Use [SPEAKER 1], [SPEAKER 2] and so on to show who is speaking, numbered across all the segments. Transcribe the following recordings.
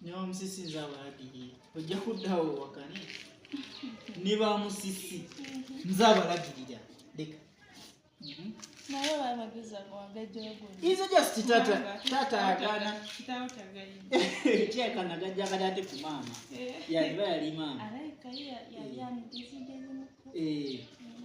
[SPEAKER 1] nebamusisinza abalagirire ojja kuddawo wakane nebamusisi nze abalagirira leka
[SPEAKER 2] mhm. izo just
[SPEAKER 1] tata tata agana
[SPEAKER 2] kyekana gajja
[SPEAKER 1] kati ate ku maama eh. yaliba yali maama
[SPEAKER 2] eh. mm.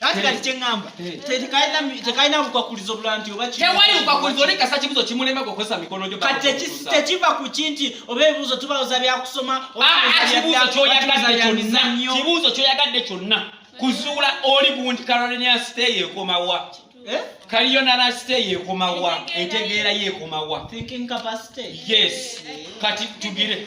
[SPEAKER 3] ate kati
[SPEAKER 1] kyeŋŋamba tekalina bukwakulizo bulala nti oba tewali bukwakulizo oli kasa
[SPEAKER 3] kibuzo kimulemba gwokozesa mikono gyo kati tekiva
[SPEAKER 1] ku ki nti oba ebibuuzo tubawoza byakusoma kibuuzo
[SPEAKER 3] kyoyagadde kyonna kuzuula oli gundi carolina sitey ekomawa eh? kaliyo nanasite yekomawa entegeera yekomawa
[SPEAKER 1] yes
[SPEAKER 3] kati tugire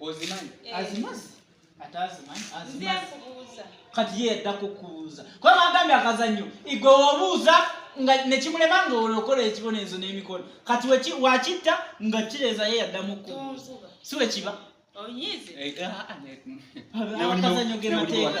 [SPEAKER 2] ozimanyi eh.
[SPEAKER 3] azimazi
[SPEAKER 1] ate azimanyi azimazi kati ye yadda kukubuuza kuba bagambye akazannyo igwe wobuuza nga nekimulema nga olokola ekibonerezo n'emikono kati wakitta nga kireeza ye yaddamu kukubuuza si wekiba akazannyo gemateeka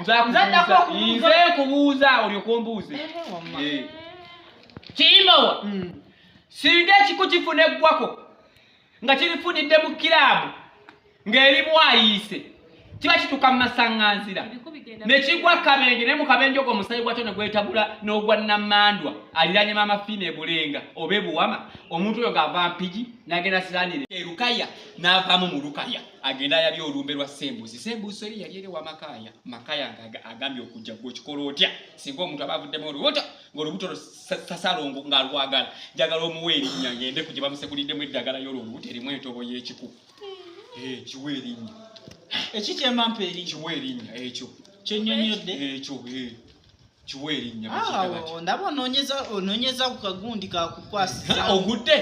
[SPEAKER 3] nze nkubuuza olyoka ombuuze kiyimawa singa ekiku kifuna eggwako nga kirifunidde mu kiraabu ng'eri bwayiise kiba kituuka mu masaŋŋanzira ne kigwa kabenje naye mu kabenje ogwo omusayi gwakyo ne gwetabula n'ogwa namandwa aliranye maama fiina ebulenga oba ebuwama omuntu oyo ng'ava mpigi n'agenda siranire erukaya n'avaamu mu lukaya agenda yali olumbe lwa sembuzi sembuzi eri yali eri wamakaya makaya nga agambye okujja gwe okikola otya singa omuntu aba avuddemu olubuto ng'olubuto sasalongo nga alwagala njagala omuwa erinnya ngende ku gye bamusekuliddemu eddagala yolwo olubuto erimu entobo y'ekiku eh, kiwa erinnya eki kyemampa
[SPEAKER 1] eri kiwa erinnya ekyo
[SPEAKER 3] kyenyonyodde
[SPEAKER 1] ekyo eh,
[SPEAKER 3] kiwa erinnya ah, ndaba
[SPEAKER 1] ononyeza ku kagundi kakukwasiza ogudde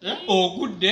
[SPEAKER 1] eh?
[SPEAKER 3] ogudde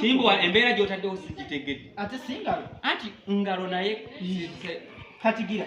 [SPEAKER 3] kimbowa embeera gyotaddewo sigitegedde ate singalo
[SPEAKER 1] anti ngalo
[SPEAKER 3] naye katigira